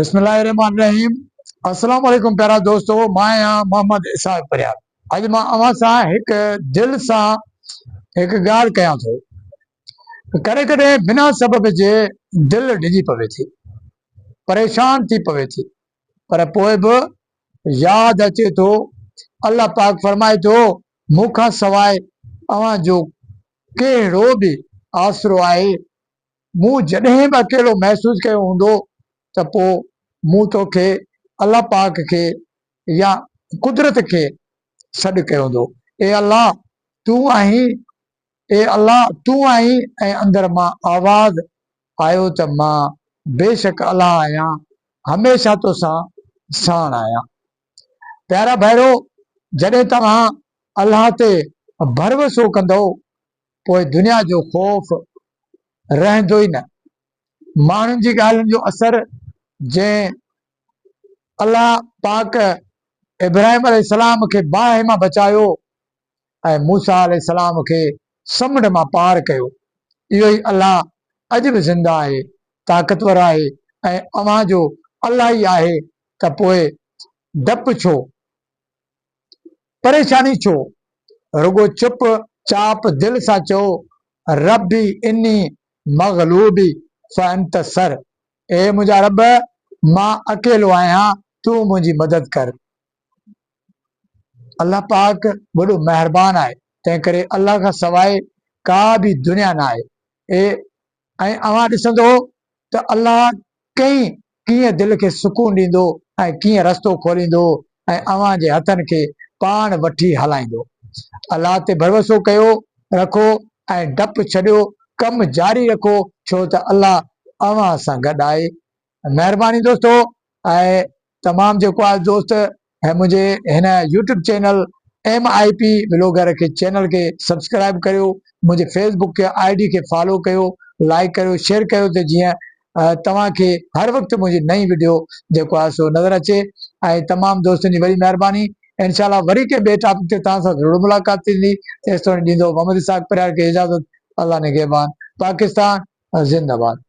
بسم الله الرحمٰن الرحيم السلام عليڪم پيارا دوستو مان آهيان محمد اسحاق پريار اڄ مان اوهان سان هڪ دل سان هڪ ڳالهه ڪيان ٿو ڪڏهن ڪڏهن بنا سبب جي دل ڊڄي پوي ٿي پريشان ٿي پوي ٿي پر پوء به ياد اچي ٿو الله پاڪ فرمائي ٿو مون کان سواء اوهان جو ڪهڙو به آسرو آهي مون جڏهن به اڪيلو محسوس ڪيو هوندو ته پوء مون توکي الله پاڪ کي يا قدرت کي سڏ ڪيو هوندو، اي الله تون آهين، اي الله تون آهين ۽ اندر مان آواز آيو ته مان بيشڪ الله آهيان، هميشه توسان ساڻ آهيان. پيارا ڀائرو! جڏهن توهان الله تي ڀروسو ڪندؤ پوء دنيا جو خوف رهندو ئي نه. ماڻهن جي ڳالهين جو اثر جنهن الله پاڪ ابراهيم عليه السلام کي باهه مان بچايو ۽ موسيٰ عليه السلام کي سمنڊ مان پار ڪيو، اهو ئي الله اڄ به زنده آهي، طاقتور آهي ۽ اوهان جو الله ئي آهي ته پوء ڊپ ڇو؟ پريشاني ڇو؟ رڳو چپ چاپ دل سان چئو، ربي اني مغلوبي فانتصر، اي منهنجا رب مان اڪيلو آهيان تون منهنجي مدد ڪر. الله پاڪ وڏو مهربان آهي تنهنڪري الله کان سواء ڪا به دنيا ناهي اي ۽ اوهان ڏسندؤ ته الله ڪئين ڪيئن دل کي سڪون ڏيندو ۽ ڪيئن رستو کوليندو ۽ اوهان جي هٿن کي پاڻ وٺي هلائيندو. الله تي ڀروسو ڪيو رکو ۽ ڊپ ڇڏيو ڪم جاري رکو ڇو ته الله اوهان سان گڏ آهي. مهرباني دوستو ۽ تمام جيڪو آ دوست هي منهنجي هن YouTube channel M I P blogger کي چينل کي سبسڪرائب ڪريو منهنجي فيس بڪ کي آئي ڊي کي فالو ڪيو لائڪ ڪريو شيئر ڪيو ته جيئن توهان کي هر وقت منهنجي نئين وڊيو جيڪو آ سو نظر اچي ۽ تمام دوستن جي وڏي مهرباني انشاء الله وري ڪنهن ٻئي ٽاپڪ تي توهان سان ضرور ملاقات ٿيندي تيستوڻي ڏيندو محمد اسحاق پريار کي اجازت الله نگهبان پاڪستان زنده باد